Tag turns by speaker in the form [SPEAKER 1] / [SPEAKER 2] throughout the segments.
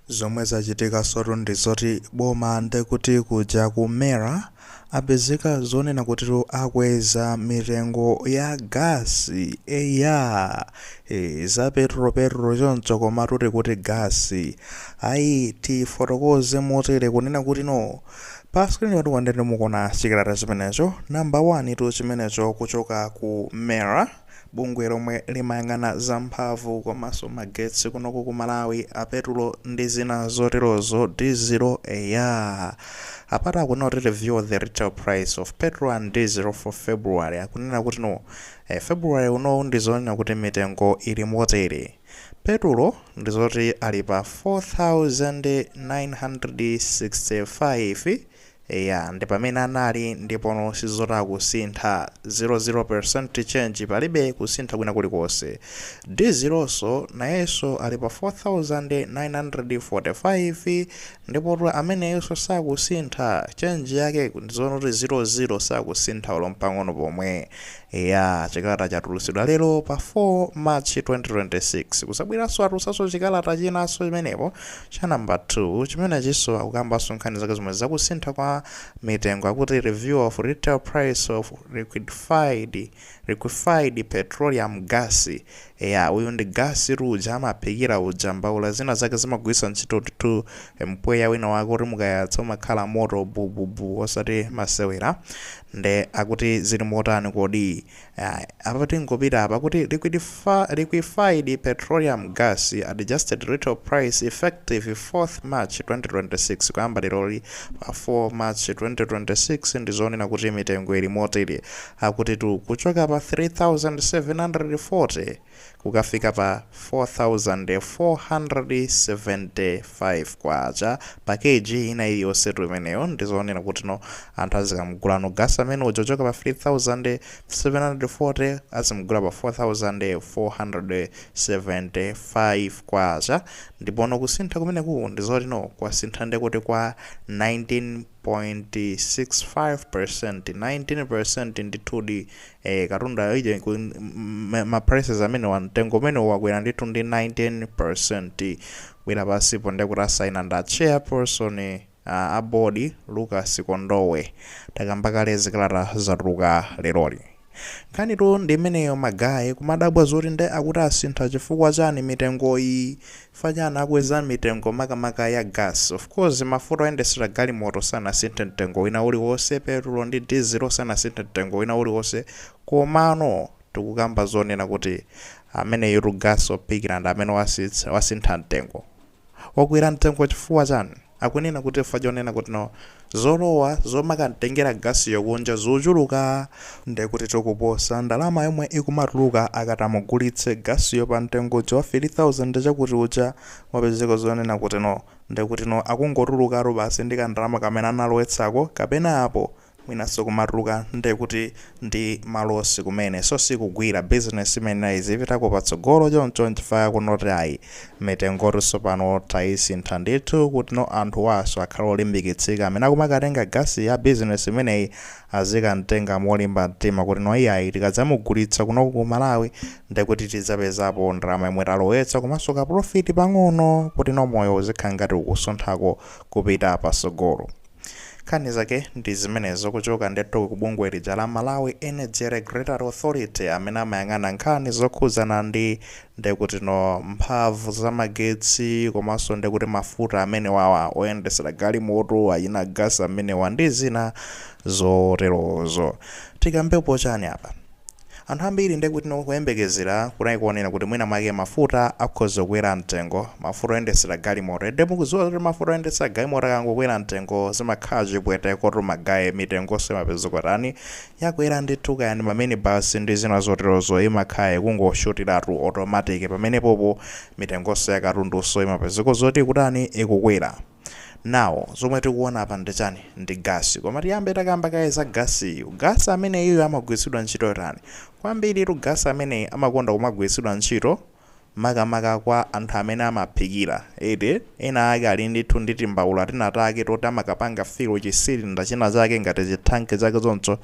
[SPEAKER 1] Zomwe zachitikansotu ndi zoti boma nde kuti kuja ku MERA apezeka zonena kutitu akweza mitengo ya gas eya e, za petulo petulo choncho komatu tikuti gas ayi tifotokoze motere kunena kuti no pa screen panuwa ndinu mukuona chikalata chimenecho number 1 tu chimenecho kuchoka ku MERA Bungwe lomwe limayang'ana za mphamvu komanso magetsi kunoku ku Malawi a petulo ndi zina zoterozo dizilo eya apatu akunena kuti review the retail price of petrol and diesel for February akunena kuti no February unowu ndizonena kuti mitengo ili motere petulo ndizoti ali pa 4965 Eya ndipamene anali ndipono ndi zoti sakusintha 00% change palibe kusintha kwina kulikonse dizilonso nayenso ali pa 4945 ndipotu ameneyonso sakusintha change yake ndizoti zero zero sakusintha olo mpang'ono pomwe Eya, chikalata chatulutsidwa lero pa 4 March 2026. Kunabweranso atulutsanso chikalata chinanso chimenepo cha number 2. Chimenechinso akukambanso nkhani zake zomwe zakusintha kwa mitengo akuti review of retail price of liquidified, liquefied petroleum gas. Eya uyu ndi gasi uja amaphikira uja mbaula zina zake zimagwiritsa ntchito ndithu mpweya wina wake oti mukayatsa umakhala moto bububu osati masewera nde akuti zili motani kodi apa tingopita apa kuti liquified petroleum gas adjusted retail price effective 4th march 2026 kuyamba leroli pa 4 march 2026 ndi zonena kuti mitengo ili motere Akutitu kuchoka pa 3,740 kukafika pa K4,475 pa Kg ina iliyonsetu imeneyo ndizonena kuti no anthu azikamugulano gas amene uja kuchoka pa 3,740 azimugula pa 4,475 Kwacha ndipo no kusintha kumeneku ndizoti no kwasintha ndekuti kwa 19 0.65% 19% ndithudi eh, katundayo ija iku- m- m- ma prices amenewa mtengo umenewu wakwera ndithu ndi 19% kubwera pansipo ndekuti asaina nda chairperson uh, a board Lucas Kondowe takamba kale zikalata zatuluka leroli Nkhanitu ndi imeneyo ma guy, kumadabwa zoti nde akuti asintha chifukwa chani mitengoyi? Chifukwa chani akweza mitengo makamaka ya gas? Of course mafuta oyendetsera galimoto sanasinthe mtengo wina uliwonse, petulo ndi dizilo sanasinthe mtengo wina uliwonse, komano tikukamba zonena kuti ameneyutu gas ophikira ndi amene wasintha mtengo. wakwera mtengo chifukwa chani? akunena kuti chifukwa chonena kuti no zolowa zomakamtengera gasiyo kunja zikuchuluka ndekuti to kuposa ndalama yomwe ikumatuluka akati amugulitse gasiyo pa mtengo uja wa 3000 chakuti uja wapezeka zonena kuti no ndekuti no akungotulukatu basi ndi kandalama kamene analowetsako kapena apo mwinanso kumatuluka nde kuti ndi malosi kumene so sikugwira, business imayenera izipitako patsogolo choncho nchifukwa akunena kuti ayi mitengotu sopano tayisintha ndithu kutno anthuwanso akhale olimbikitsika amene akumakatenga gasi ya business imeneyi azikamtenga molimba mtima kutno iyayi tikadzamugulitsa kunoku ku Malawi ndekuti tidzapezapo ndalama yomwe talowetsa komanso ka profit pang'ono kutno moyo uzikhala ngati ukusunthako kupita patsogolo. Nkhani zake ndi zimenezo kuchoka ndithu ku bungwe lija la Malawi Energy Regulatory Authority amene amayang'ana nkhani zokhudzana ndi ndekutino mphamvu za magetsi komanso ndekuti mafuta amenewawa oyendetsera galimoto achina gasi amenewa ndi zina zoterozo. Tikambepo chani apa? Anthu ambiri nde kutno kuyembekezera kunali konena kuti mwina mwake mafuta akhoza kukwera mtengo, mafuta oyendetsera galimoto, inde mukudziwa zoti mafuta oyendetsera galimoto akangokwera mtengo zimakhala chipwetekotu magaye mitengonso imapezeka kutani, yakwera ndithu kaya ndi ma minibus ndi zina zoterozo imakhala ikungoshutiratu automatic pamenepopo mitengonso ya katundunso imapezeka zoti ikutani, ikukwera. Now zomwe tikuona apa ndi chani? Ndi gasi. Koma tiyambe takamba kaye za gasiyu. Gasi ameneyuyu amagwiritsidwa ntchito yotani? Kwambiritu gasi ameneyi amakonda kumagwiritsidwa ntchito makamaka kwa anthu amene amaphikira, eti? Ena ake ali ndithu ndi timbaula tina take toti amakapanga fill chi cylinder china chake ngati chi thanki chake choncho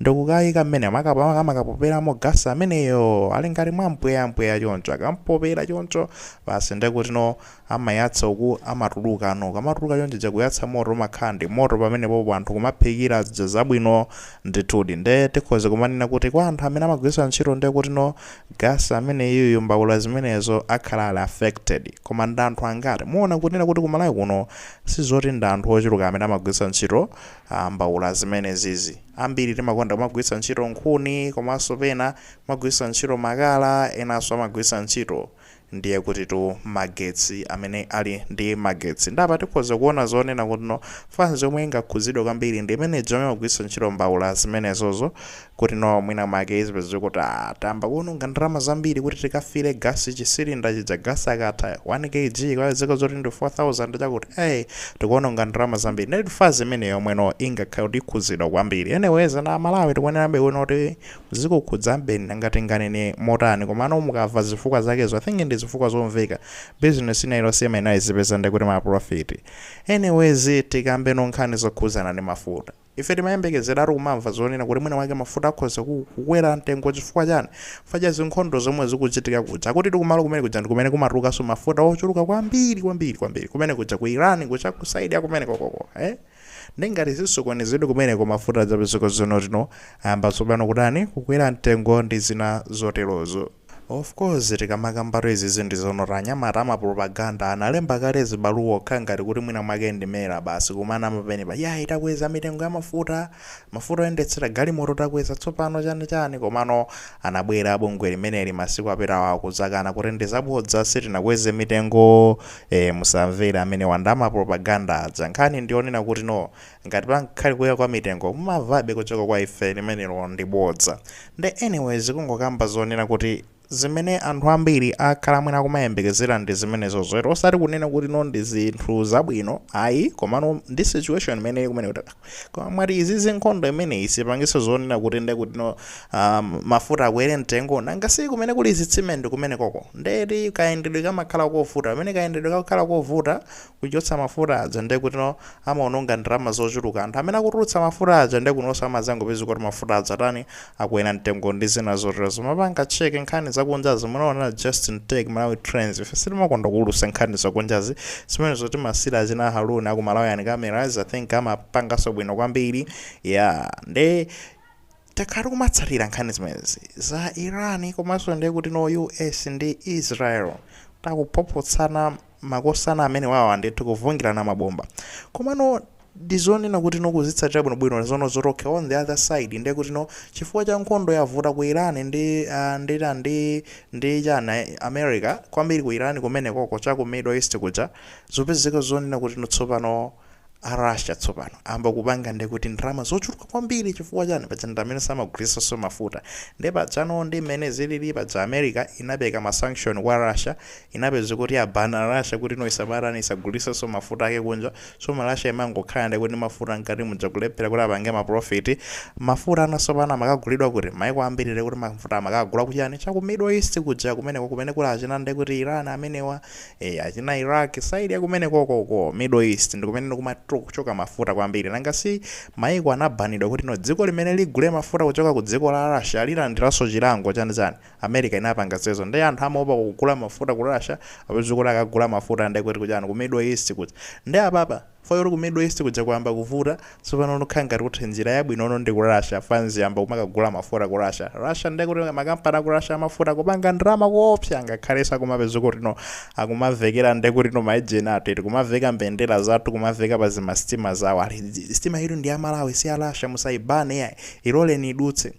[SPEAKER 1] ndikukaika mmenemo amakapoperamo gasi ameneyo. Ali ngati mwa mpweya mpweya choncho. Akamupopera choncho basi ndiye kutino amayatsa uku amatuluka no ukamatuluka chonchija kuyatsa moto umakhala ndi moto pamenepopo anthu kumaphikira zija zabwino ndithudi nde tikhoza kumanena kuti kwa anthu amene amagwiritsa ntchito nde kuti no gasi ameneyuyu mbaula zimenezo akhala ali affected koma ndi anthu angati muona kunena kuti ku Malawi kuno sizoti ndi anthu ochuluka amene amagwiritsa ntchito uh, mbaula zimenezizi ambiri timakonda kumagwiritsa ntchito nkhuni komanso pena kumagwiritsa ntchito makala enanso amagwiritsa ntchito ndiye kutitu magetsi amene ali ndi magetsi nde apa tikhoza kuona zonena kutino fans yomwe ingakhudzidwe kwambiri ndi imene ija yomwe imagwiritsa ntchito mbaula zimenezozo kutino mwina mwake izipeza kuti ah, tayamba kuononga ndalama zambiri kuti tikafire gasi chisilinda chija gasi akatha 1 kg kwapezeka zoti ndi 4000 chakuti eh tikuononga ndalama zambiri nde fans imene yomweno ingakhale kuti ikhudzidwa kwambiri anyways a Malawi tikuonerabe kuno kuti zikukhudza mbeni nanga tinganene motani komano mukamva zifukwa zakezo i think ndizifukwa zomveka business ina iliyonse imayenera izipeza ndekuti ma profit anyways tikambe no nkhani zokhudzana ndi mafuta ife timayembekezeratu kumamva zonena kuti mwina mwake mafuta akhoza kukwera mtengo chifukwa chani paja zinkhondo zomwe zikuchitika kuja kutitu kumalo kumene kuja ndikumene kumatulukaso mafuta ochuluka kwambiri kwambiri kwambiri kumene kuja ku iran kuja ku side yakumene kokoko eh Nde ngati zisokonezedwe kumeneko mafuta adzapezeka zonoti no ayamba tsopano kutani kukwera mtengo ndi zina zoterozo. Of course tikamakambatu izizi ndi zonoti anyamata amapropaganda analemba kale zibaluwa kukhala ngati kuti mwina mwake ndi mera basi kumanama penepa yayi takweza mitengo ya mafuta, mafuta oyendetsera galimoto takweza tsopano chani chani komano anabwera bungwe limeneli masiku apitawa kudzakana kuti ndi zabodza sitinakweze mitengo Eee musamvere amenewa nda mapropaganda aja, nkhani ndiyonena kuti no ngati pangakhale kukwera kwa mitengo mumvabe kuchoka kwa ife limenelo ndi bodza nde anyways tikungokamba zonena kuti zimene anthu ambiri akhala mwina akumayembekezera ndi zimenezozo eti osati kunena kuti no ndi zinthu zabwino ayi komano ndi situation imene ili kumeneko koma mwati izi zinkhondo zimenezi zipangitsa zonena kuti nde kuti no um, mafuta akwere mtengo nanga si kumene kuli zitsime ndi kumene koko ndeti kayendedwe kamakhala kovuta pamene kayendedwe kakhala kovuta kuchotsa mafuta aja nde kuti no amaononga ndalama zochuluka anthu amene akutulutsa mafuta aja nde kunonso amazangopeza kuti mafuta aja atani Akwera mtengo ndi zina zotero. Mumapanga check nkhani zakunjazi. Munaona Just In Take Malawi Trends. Ife sitimakonda kuulutsa nkhani zakunjazi. Zimenezo timasiira achina Haroon aku Malawian Cameras. I think amapanganso bwino kwambiri. Yeah. Nde takhala tikumatsatira nkhani zimenezi za Iran komanso ndiye kuti no US ndi Israel akuphophotsana makosana amenewawa ndithu kuvungirana mabomba komano ndizonena kuti no kuzitsatira bwinobwino zono zoti okay on the other side ndiye kuti no chifukwa cha nkhondo yavuta ku iran ndi ah, ndi ta- ndi ndi chana eh, america kwambiri ku iran kumenekoko cha ku middle east kuja zopezeka zonena kuti no tsopano a Russia tsopano ayamba kupanga nde kuti ndalama zochuluka kwambiri chifukwa chani paja ndi amene amagulitsanso mafuta nde pajano ndi mmene zilili paja America inapereka ma sanction kwa Russia inapeza kuti yabana Russia kuti no isamatani isagulitsenso mafuta ake kunja so Russia imangokhala nde kuti mafuta mkati muja kulephera kuti apange ma profit mafuta ano tsopano amakagulidwa kuti maiko ambiri nde kuti mafuta amakagula kuchani cha ku Middle East kuja kumeneko kumene kuli achina nde kuti Iran amenewa Eee achina Iraq side yakumenekoko uko middle east ndikumene kumachoka mafuta kwambiri nanga si maiko anabanidwa kuti no dziko limene ligule mafuta kuchoka ku dziko la Russia lilandiranso chilango chani chani America inapanga zimenezo nde anthu amaopa kugula mafuta ku Russia apeza kuti akagula mafuta ndekuti kuchani ku middle east kuja nde apapa Pakuti ku middle east kuja kwayamba kuvuta tsopano nkukhala ngati kuti njira yabwino no ndi ku Russia fanzi iyamba kumakagula mafuta ku Russia Russia ndiye kuti makampani aku Russia amafuta akupanga ndalama koopsa ngakhalenso akumapeza kutino akumavekera ndiye kutino ma ejeni athu eti kumaveka mbendera zathu kumaveka pa zimasitima zawo ali sitima iyi ndi ya Malawi si ya Russia musayibane iyayi iloleni idutse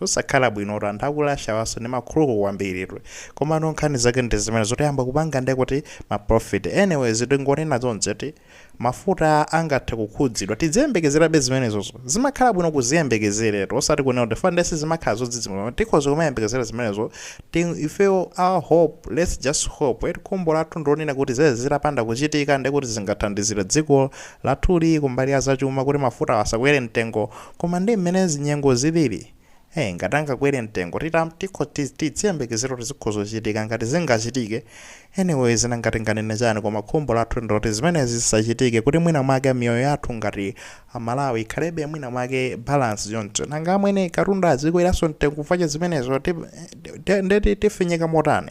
[SPEAKER 1] Zosakhala bwinotu anthu aku Russia wanso ndi makhuluku kwambiri tu. Komano nkhani zake ndi zimenezo kuti ayamba kupanga nde kuti ma profit. Anyways tingonena chonchi eti mafuta angathe kukhudzidwa. Tidziyembekezerabe zimenezozo. Zimakhala bwino kuziyembekezeretu osati kunena kuti chifukwa nde sizimakhala zodzidzimutsa koma tikhoza kumayembekezera zimenezo eti ifeyo our hope let's just hope eti khumbo lathu ndi lonena kuti zimenezi zitapanda kuchitika nde kuti zingathandizire dziko lathuli kumbali ya zachuma kuti mafutawa asakwere mtengo Koma nde mmene nyengo zilili ee ngati angakwele mtengo titam tikho ti ti tiziyembekezera kuti zikhoza ochitika ngati zingachitike anyways nanga tinganene chani koma khumbo lathu ndiloti zimenezi zisachitike kuti mwina mwake miyoyo yathu ngati a Malawi ikhalebe mwina mwake balance choncho nanga amwene katundu azikweraso mtengo chifukwa cha zimenezo eti nde ti tifinyika motani